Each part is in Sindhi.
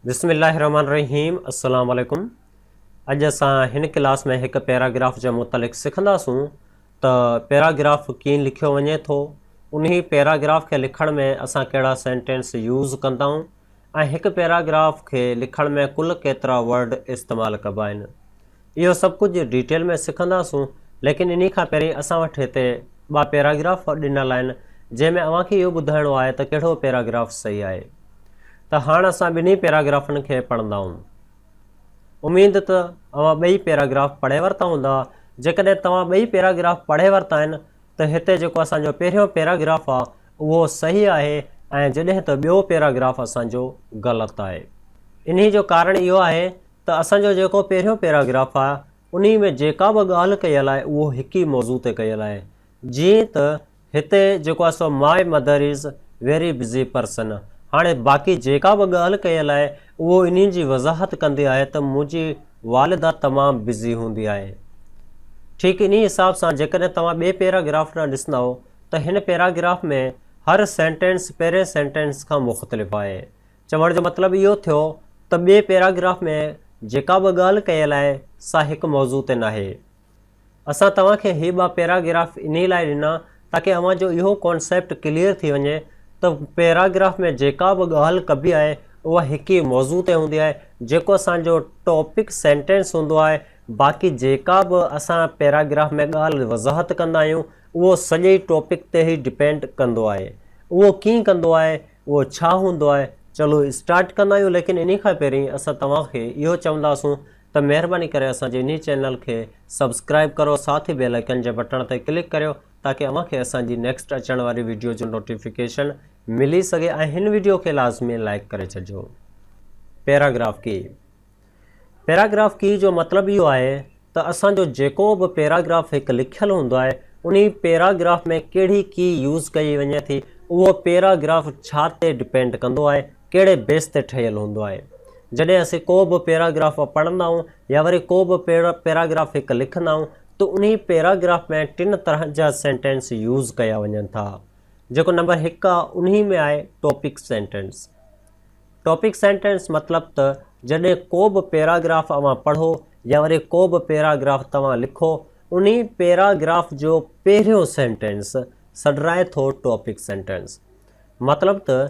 بسم الله الرحمن الرحيم السلام عليڪم اڄ اسان هن ڪلاس ۾ هڪ پيراگراف جي متعلق سکنداسون ته پيراگراف ڪين لکيو وڃي ٿو انهي پيراگراف کي لکڻ ۾ اسان ڪهڙا سينٽينس يوز ڪنداون ۽ هڪ پيراگراف کي لکڻ ۾ ڪل ڪيترا ورڊ استعمال ڪبا آهن. اهو سڀ ڪجهه ڊيٽيل ۾ سکنداسون ليڪن انهي کان پهرين اسان وٽ هتي ٻه پيراگراف ڏنل آهن جنهن ۾ اوهان کي اهو ٻڌائڻو آهي ته ڪهڙو پيراگراف صحيح آهي. ته هاڻ اسان ٻنهي پيراگرافن کي پڙهندائون. اميد ته اوهان ٻئي پيراگراف پڙهي ورتا هوندا. جيڪڏهن توهان ٻئي پيراگراف پڙهي ورتا آهن ته هتي جيڪو اسان جو پهريون پيراگراف آ اهو صحيح آهي ۽ جڏهن ته ٻيو پيراگراف اسان جو غلط آهي. انهي جو ڪارڻ اهو آهي ته اسان جو جيڪو پهريون پيراگراف آ انهي ۾ جيڪا به ڳالهه ڪيل آهي اهو هڪ ئي موضوع تي ڪيل آهي جيئن ته هتي جيڪو آهي سو My mother is very busy person هاڻي باقي جيڪا به ڳالهه ڪيل آهي اهو انهي جي وضاحت ڪندي آهي ته منهنجي والده تمام بزي هوندي آهي. ٺيڪ انهي حساب سان جيڪڏهن توهان ٻئي پيراگراف ڏانهن ڏسندؤ ته هن پيراگراف ۾ هر سينٽينس پهرين سينٽينس کان مختلف آهي. چوڻ جو مطلب اهو ٿيو ته ٻئي پيراگراف ۾ جيڪا به ڳالهه ڪيل آهي سا هڪ موضوع تي ناهي. اسان توهان کي هي ٻه پيراگراف انهي لاء ڏنا تاڪي اوهان جو اهو ڪانسيپٽ ڪليئر ٿي وڃي ته پيراگراف ۾ جيڪا به ڳالهه ڪبي آهي اها هڪ ئي موضوع تي هوندي آهي جيڪو اسان جو ٽاپڪ سينٽينس هوندو آهي باقي جيڪا به اسان پيراگراف ۾ ڳالهه وضاحت ڪندا آهيون اهو سڄي ٽاپڪ تي ئي ڊپينڊ ڪندو آهي اهو ڪيئن ڪندو آهي اهو ڇا هوندو آهي چلو اسٽارٽ ڪندا آهيون ليڪن انهي کان پهرين اسان توهان کي اهو چونداسون ته مهرباني ڪري اسان جي انهي چينل کي سبسڪرائيب ڪرو ساٿ بيل آئيڪن جي بٽڻ تي ڪلڪ ڪريو تاڪه اوهان کي اسان جي نيڪسٽ اچڻ واري ويڊيو جو نوٽيفڪيشن ملي سگهي ۽ هن ويڊيو کي لازمي لائيڪ ڪري ڇڏجو. پيراگراف ڪي، پيراگراف ڪي جو مطلب اهو آهي ته اسان جو جيڪو به پيراگراف هڪ لکيل هوندو آهي انهي پيراگراف ۾ ڪهڙي ڪي يوز ڪئي وڃي ٿي اهو پيراگراف ڇا تي ڊپينڊ ڪندو آهي ڪهڙي بيس تي ٺهيل هوندو آهي. جڏهن اسين ڪو به پيراگراف پڙهندا آهيون يا وري ڪو به پيراگراف هڪ لکندا آهيون ته انهي پيراگراف ۾ ٽن طرحن جا سينٽينس يوز ڪيا وڃن ٿا. جيڪو نمبر هڪ آهي انهي ۾ آهي ٽاپڪ سينٽينس. ٽاپڪ سينٽينس مطلب ته جڏهن ڪو به پيراگراف اوهان پڙهو يا وري ڪو به پيراگراف توهان لکو انهي پيراگراف جو پهريون سينٽينس سڏرائي ٿو ٽاپڪ سينٽينس. مطلب ته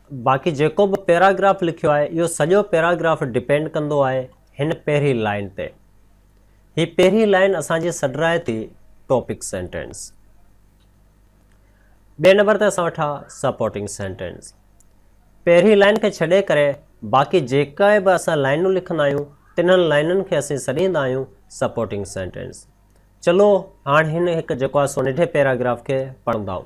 باقي جيڪو به پيراگراف لکيو آهي اهو سڄو پيراگراف ڊپينڊ ڪندو آهي هن پهرين لائين تي. هي پهرين لائين اسان جي سڏرائي ٿي ٽاپڪ سينٽينس. ٻئي نمبر تي اسان وٽ آ سپورٽنگ سينٽينس. پهرين لائين کي ڇڏي ڪري باقي جيڪا به اسان لائنون لکندا آهيون تنهن لائنن کي اسين سڏيندا آهيون سپورٽنگ سينٽينس. چلو هاڻ هن هڪ جيڪو آ سو ننڍي پيراگراف کي پڙهندائون.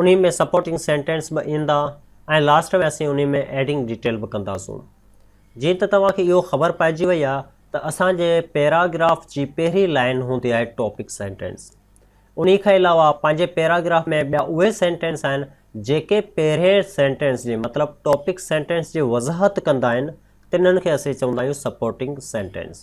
انهي ۾ سپورٽنگ سينٽينس به ايندا ۽ لاسٽ ۾ اسين انهي ۾ ايڊنگ ڊيٽيل به ڪنداسون. جيئن ته توهان کي اهو خبر پئجي وئي آهي ته اسان جي پيراگراف جي پهرين لائين هوندي آهي ٽاپڪ سينٽينس. انهي کان علاوه پنهنجي پيراگراف ۾ ٻيا اهي سينٽينس آهن جيڪي پهرين سينٽينس جي مطلب ٽاپڪ سينٽينس جي وضاحت ڪندا آهن تنهن کي اسين چوندا آهيون سپورٽنگ سينٽينس.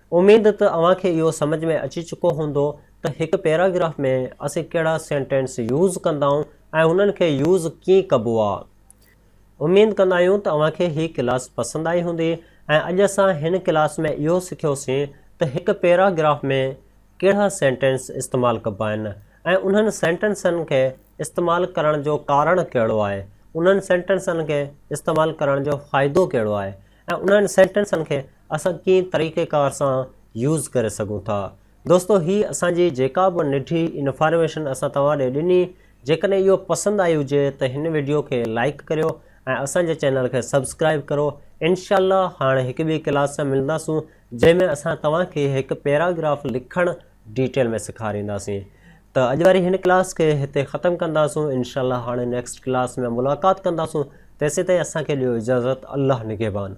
اميد ته اوهان کي اهو سمجهه ۾ اچي چڪو هوندو ته هڪ پيراگراف ۾ اسين ڪهڙا سينٽينس يوز ڪندائون ۽ انهن کي يوز ڪيئن ڪبو آ. اميد ڪندا آهيون ته اوهان کي هي ڪلاس پسند آئي هوندي ۽ اڄ اسان هن ڪلاس ۾ اهو سکيوسين ته هڪ پيراگراف ۾ ڪهڙا سينٽينس استعمال ڪبا آهن ۽ انهن سينٽينسن کي استعمال ڪرڻ جو ڪارڻ ڪهڙو آهي، انهن سينٽينسن کي استعمال ڪرڻ جو فائدو ڪهڙو آهي. ۽ انهن سينٽينسن کي اسان ڪئين طريقي ڪار سان يوز ڪري سگهون ٿا. دوستو هي اسان جي جيڪا به ننڍي انفارميشن اسان توهان ڏي ڏني جيڪڏهن اهو پسند آئي هجي ته هن وڊيو کي لائيڪ ڪريو ۽ اسان جي چينل کي سبسڪرائيب ڪرو انشاء الله هاڻ هڪ ٻي ڪلاس سان ملنداسون جنهن ۾ اسان توهان کي هڪ پيراگراف لکڻ ڊيٽيل ۾ سيکارينداسين ته اڄ واري هن ڪلاس کي هتي ختم ڪنداسون انشاء الله هاڻي نيڪسٽ ڪلاس ۾ ملاقات ڪنداسون تيسين تائين اسان کي ڏيو اجازت الله نگهبان.